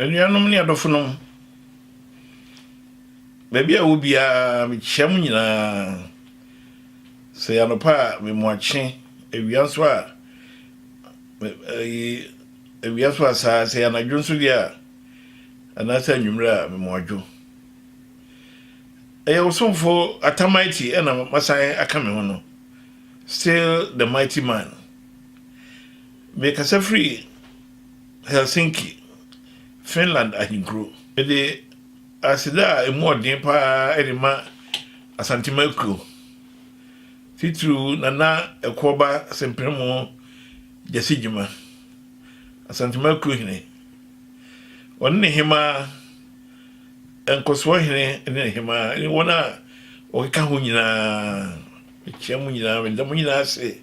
anuanom ne adɔfonom baabi a wɔ biara mekyia mo nyinaa sɛ yɛanɔpa a memoakye awia nso a Awia nso asaa, sɛ ɛyɛ anadwo nso deɛ a, anaasɛ anwummerɛ a, mema wɔadwo. Ɛyɛ wo somfo Atamighty na masan aka me ho no, still the mighty man. Mekasa firi Helsinki, Finland ahenkuro. Mede aseda a ɛmu ɔden paa de ma Asantema akuo, titiriw Nana Ɛkoɔba Sempremo, Gyasi Gyimah, Asantuma Kuro Hene. Ɔne ne hemaa, Nkɔsoɔ Hene ne ne hemaa ne wɔn a wɔkeka ho nyinaa. Mekyia mo nyinaa, meda mo nyinaa ase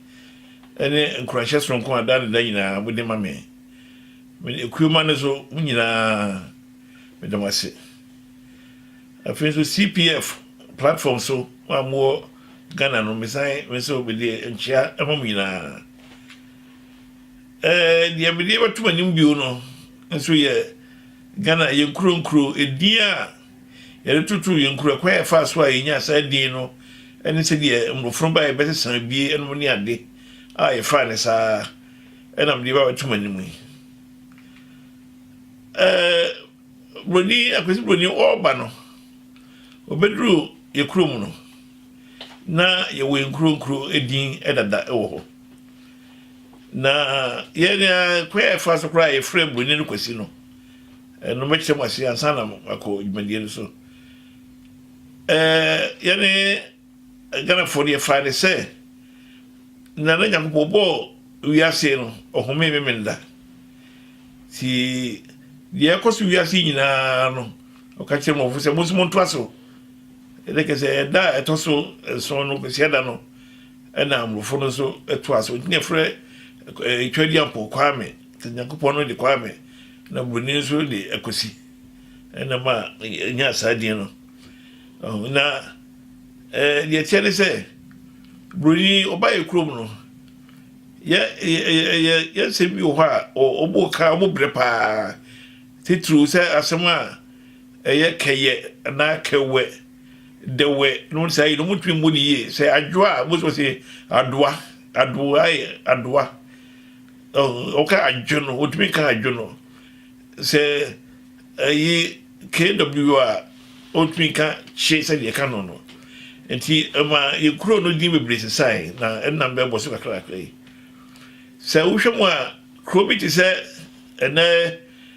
ne nkuranhyɛ soronko a daa ne da nyinaa mode ma me. Mede Ekuoma no so mo nyinaa meda mo ase. Afei nso CPF platform so a mowɔ Ghana no, mesan me nso mede nkyia ma mo nyinaa. Deɛ mede bɛto mo anim bio no nso yɛ Ghana, yɛn nkuro nkuro edin a yɛde toto yɛn nkuro, ɛkwan a yɛfaa so a yɛnyaa saa din no ne sɛdeɛ mmorɔfo no baeɛ bɛsesa abie nom ne ade a yɛfaa ne saa ɛna mede ba bɛto mo anim yi. Buroni, Akwasi Buroni ɔreba no, ɔbɛduru yɛ kurom no, na yɛwɔ yɛn nkuro nkuro din dada wɔ hɔ na yɛn kwan a yɛfa so koraa yɛfrɛ buroni no kwasi no ɛno mɛkyerɛ mu ase ansa na akɔ dwumadie no so ɛɛ yɛne ghanafoɔ no yɛfaa ne sɛ na na nyankopɔn bɔɔ wiase no ɔhome memenda ti deɛ ɛkɔ so wiase nyinaa no ɔka kyerɛ mɔfo sɛ mo nso montoa so Ɛnna kyerɛ sɛ ɛda a ɛtɔ so nson no, Kwasiada no, ɛna Mmorofo no nso to ase. Ɔtumi afrɛ Twadi Ampɔw Kwame, sɛ Nyankopɔn no de Kwame, na Buroni nso de Akwasi. Ɛna ma ɛnya saa din no. Na deɛ ɛteɛ ne sɛ, Buroni ɔba yɛ kurom no, yɛ yɛ yɛ nsɛm bi wɔ hɔ a ɔbɔ ka ɔbɔ brɛ paa titiriw sɛ asɛm a Ɛyɛ kɛyɛ anaa kɛwɛ, dɛwɛ nom no saa yi no ɔmo ntumi mmu no yie sɛ adwoa a most of us adoa adoa adoa ɔka adwo no ɔtumi nka adwo no sɛ ɛyi kw a ɔtumi nka kye sɛ deɛ ɛka no no nti ɛma yɛ kuro no din bebree sesae na ɛnam bɛbɔ so kakrakra yi sɛ wohwɛ mu a kuro bi te sɛ ɛnɛ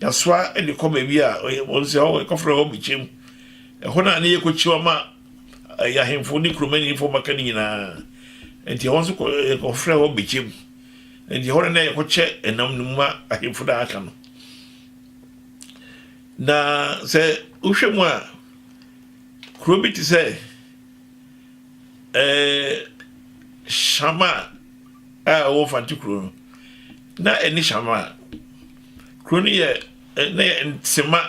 Yɛasoa de kɔ baabi a wɔn sɛ hɔ yɛkɔfrɛ hɔ Bkyem. Ɛhɔ na ne yɛkɔkyim ama yɛn ahemfo ne kuromanimfoɔ mmaka no nyinaa. Enti ɛhɔ nso yɛkɔfrɛ hɔ Bkyem. Enti ɛhɔ na na yɛkɔkyɛ ɛnam no mu ma ahemfo no a aka no. Na sɛ wohwɛ mu a, kuro bi te sɛ Shama a ɛwɔ Mfante kuro no, na ɛne Shama a Kuro no yɛ na yɛ Nsema,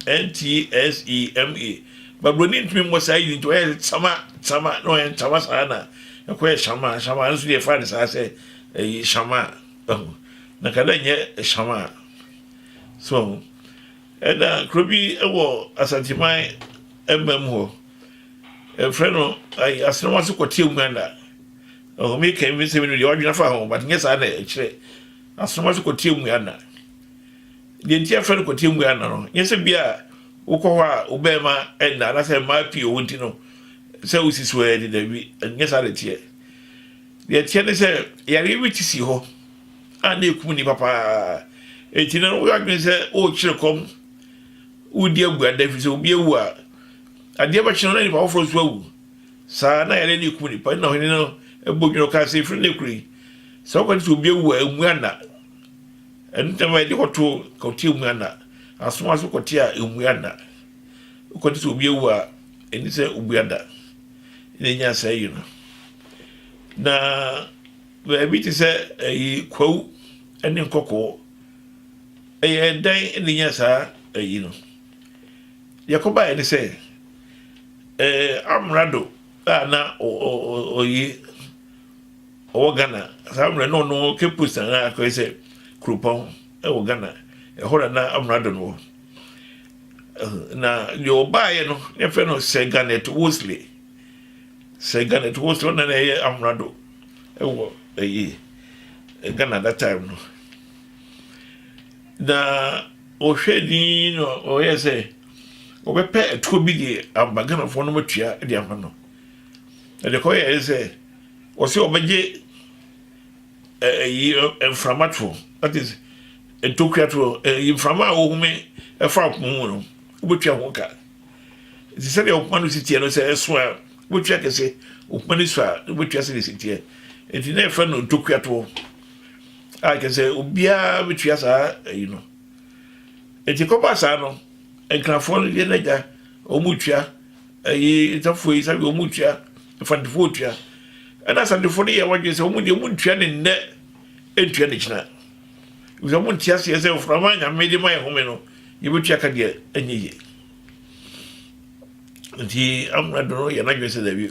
N-T-S-E-M-A. But Buroni ntumi mmɔ saa yini nti ɔyɛɛ sɛ Tsama, Tsama, na ɔyɛ Ntsama saa na ɛkɔyɛ Shama, Shama, ɛno nso deɛ yɛfaa no saa sɛ ɛyi Shama, ɛho. Na ka dɛ nyɛ Shama, so ɛho. Ɛna kuro bi wɔ Asanteman mmam hɔ, ɛfrɛ no ayi Asenɔm ase kɔteɛ Uganda. Ɛho, meka yi mesɛ menu deɛ wadwene afa ho, but nyɛ saa na ɛkyerɛ. Asoma sɛ kɔtie mmua nna. Deɛ nti yɛfrɛ no kɔtie mmua nna no, nyɛ sɛ bia wokɔ hɔ a wo bɛrima nna anaasɛ mmaa pii wɔ nti no sɛ wosi so ɛ de dabi nyɛ saa na ɛteɛ. Deɛ ɛteɛ ne sɛ yareɛ bi te si hɔ a na ɛkum nnipa paa ɛti no woyɛ adwene sɛ worekyerɛ kɔm wodi abuada ɛfiri sɛ obi awu a adeɛ bɛkye no na nnipa foforɔ nso awu. Saa ara na yare no rekum nnipa. Ɛno na ɔhene no bɔ dwene. Ɔkaa sɛ, Ɛfiri nnɛ kuro yi, sɛ wokɔte sɛ obi awu a, ɛmmu anna. Ɛno nti na mɛma yɛde kɔto kɔte ɛmmu anna. Asoma so kɔte a ɛmmu anna. Wokɔte sɛ obi awu a, ɛni sɛ obu anna. Na ɛnya saa yi no. Na baabi te sɛ ɛyi kwawu ne nkɔkɔɔ. Ɛyɛ ɛdan na ɛnya saa ɛyi no. Deɛ ɛkɔbaeɛ ne sɛ, amrado a na ɔye ɔwɔ Ghana saa mmerɛ na ɔno Cape Coast anaa akɔyɛ sɛ kuropɔn wɔ Ghana ɛhɔ na na amrado no wɔ na deɛ ɔbaeɛ no ne fɛ no Sir Garnet Wolseley Sir Garnet Wolseley ɔna na ɛyɛ amrado ɛwɔ ɛyi Ghana that time no Na wɔhwɛɛ dinn na wɔyɛɛ sɛ wɔbɛpɛ atuo bi de aba Ghanafoɔ no matua de ama no. Na deɛ kɔyɛɛ ne sɛ wɔsɛ wɔbɛgye ɛyi mframa toɔ that is ntokua toɔ ɛyi mframa a wɔhome ɛfa ɔpoma mu no wobɛtua ho ka. Nti sɛdeɛ ɔpoma no si teɛ no sɛ ɛso a wobɛtua kɛse ɔpoma no so a wobɛtua sɛdeɛ si teɛ. Nti na ɛfrɛ no ntokua toɔ. a kyɛ sɛ obiara bɛtua saa ayi no ɛti kɔba saa no nkrafoɔ no yɛ n'agya wɔn tua ɛyi nsafoɔ yi sabi wɔn tua mfantefoɔ tua ɛna asantefoɔ no yɛ wɔn adwene sɛ wɔn deɛ wɔn tua ne nnɛ ntua ne kyina wɔn wɔn ti aseɛ sɛ nframa nyame de ma yɛ home no yɛbɛtua ka deɛ ɛnyɛ yie nti amuna dono yɛ n'adwene sɛ dɛbi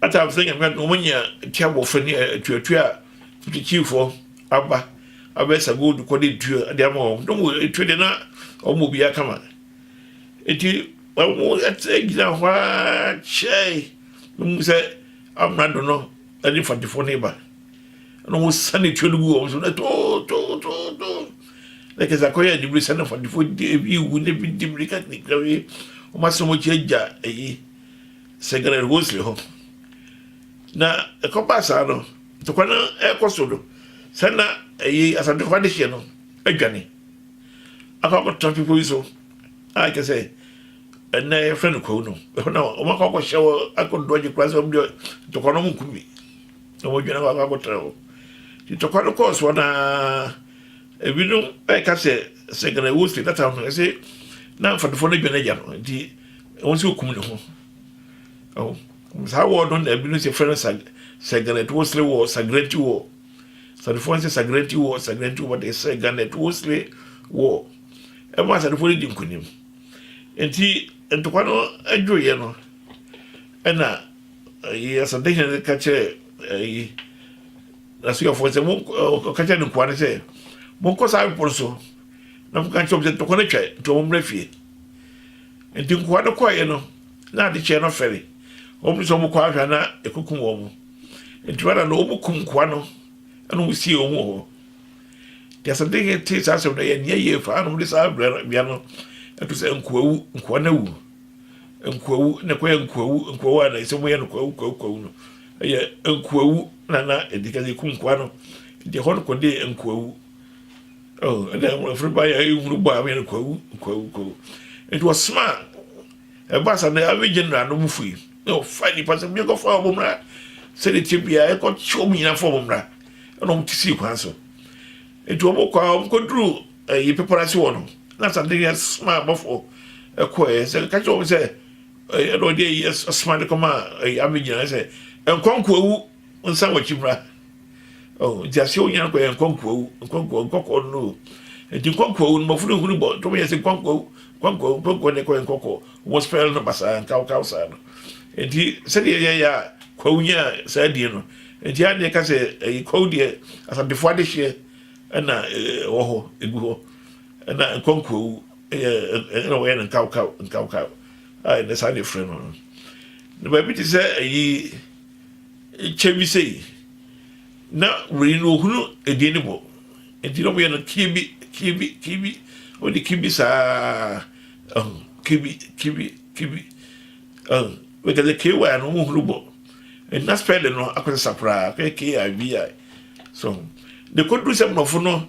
Atam sɛ Nyame adom ɔmo nya tia bɔfɛ ne atuatua a Kyikyifɔ aba abɛsa gold kɔ de tua de ama wɔn. Dɔm wɔ etua de na ɔmo bɔ biara kama. Eti ɔmo ɛte gyina hɔ a kyɛe na ɔmo sɛ amrado no ɛde fatefo ne ba. Na ɔmo sane tua no gu wɔn so na too too too too. na kyerɛ sɛ akɔyɛ anibere sɛ na fadifo de ebi wu na ebi di mirika tinkira wie wɔn asɛm akyi agya eyi sɛ gana rosely hɔ na ɛkɔba saa no ntɔkwa no ɛkɔ so no sɛ na eyi asante kɔfa de hyɛ no adwane akɔ akɔtena bepɔ bi so a kyerɛ sɛ ɛnna yɛfrɛ no kwawu no ɛhɔ na wɔn akɔ akɔhyɛ wɔ akɔdo agye kura sɛ wɔn deɛ ntɔkwa no wɔn nkumi na wɔn adwane akɔ akɔtena hɔ ntɔkwa no kɔɔ soɔ naa. Ebinom ɛka sɛ sɛ Ghana ɛwɔ sɛ data no ɛsɛ na mfadofo no dwane agya no nti wɔn sɛ okum ne ho ɛho saa wɔ no na ebinom sɛ fɛn sa sɛ Ghana ɛtɔ sere wɔ sagrenti wɔ sadofo sɛ sagrenti wɔ sagrenti wɔ de sɛ Ghana ɛtɔ sere wɔ ɛma sadofo no di nkunim nti ntɔkwa no adwo yɛ no ɛna yɛ asadehyɛn ka kyerɛ ɛyi. N'asuafoɔ no sɛ, Mo, ɔka kyerɛɛ ne nkoa no sɛ, Monkɔ saa bepɔ no so na monka nkyerɛ wɔn sɛ, Ntɔkwa no atwa, enti wɔmmra fie. Enti nkoa no kɔeɛ no, na ade kyeeɛ no fɛre. Wɔpene sɛ wɔkɔ ahwɛ a na ɛkɔkum wɔn. Enti Rada no, wɔkum nkoa no na wɔsiee wɔn wɔ hɔ. Enti asaden hene tee saa asɛm no, ɛyɛɛ nea ɛyɛ faa no, wɔde saa bea no to sɛ Nkoawu, Nkoa no awu, Nkoawu, na ɛkɔyɛɛ Nkoawu, Nkoawu a na ɛsɛ sɛ wɔyɛ no Kwawu, Kwawu, Kwawu no. Ɛyɛ nkoawu na na ɛdi kan yɛku nkoa no nti ɛhɔ no kɔde nkoawu ɛna ɛfiri ba yɛ nhunu bɔ a wɔyɛ no kwawu kwawu kwawu nti wɔsoma ɛba sa no awi general no mu fui na ɔfa nipa sɛ bi ɛkɔfa wɔn mmra sɛdeɛ tie bia ɛkɔ kye wɔn nyinaa fa wɔn mmra ɛna wɔn ti si kwan so nti wɔn kɔ a wɔn kɔ duru ɛyi pepere ase wɔ no na sa de yɛ soma abɔfo ɛkɔ yɛ sɛ kakyɛ wɔn sɛ. Ɛyɛ na ɔde ayi asoma de kɔma ayi abegyina ayɛ sɛ nkɔnkoawu nsa wɔkyi mmra. Oh, nti aseɛ wonya no kɔ yɛ nkɔnkoawu nkɔnkoawu nkɔkɔɔ no no. Nti nkɔnkoawu no mɔfo no nhunu bɔ ntɔm yɛ sɛ nkɔnkoawu nkɔnkoawu nkɔnkoawu na ɛkɔ yɛ nkɔkɔɔ. Wɔn spɛl no basaa nkawkaw saa no. Nti sɛdeɛ yɛ yɛ a kwawu nya saa die no. Nti a na yɛka sɛ ɛyɛ kwawu deɛ asantefoɔ adehyeɛ ɛna ɛwɔ hɔ egu hɔ ɛna nkɔnkoawu. Ɛyɛ ɛyɛ na wɔyɛ no nkawkaw nkawkaw a ɛnɛ saa na efrɛ no no. Na baabi te sɛ ayi kyɛ bi sei na wei no ohunu edin no bɔ nti na wɔyɛ no kibi kibi kibi wɔde kibi saa ɛho kibi kibi kibi ɛho wɔka sɛ ky no wɔn hunu bɔ ɛna spɛlin no akɔsesa koraa kɛ kibi so de kɔduru sɛ mmorɔfo no.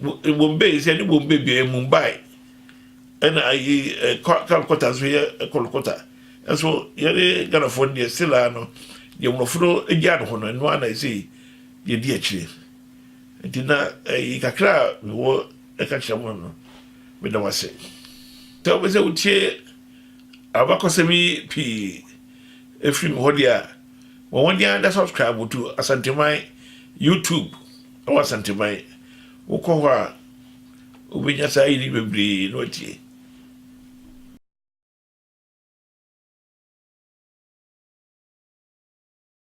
Bombay nso yɛne Bombay bia yɛ Mumbai ɛna ayi Calcutta nso yɛ Kolkota ɛnso yɛne Ghanafoɔ no deɛ still ara no deɛ mmorɔfo no gyaa no hɔ no ɛno ara na ɛsɛ yɛdi akyire nti na ɛyi kakra a mewɔ ɛka kyerɛ mo no meda mo ase sɛ wobɛ sɛ wotie abakɔsɛm yi pii ɛfiri me hɔ deɛ a Bɔ mmɔden ara na subscribe to Asanteman YouTube ɛwɔ Asanteman. Wokɔ hɔ a, wobɛnya saa yiri bebree na watie.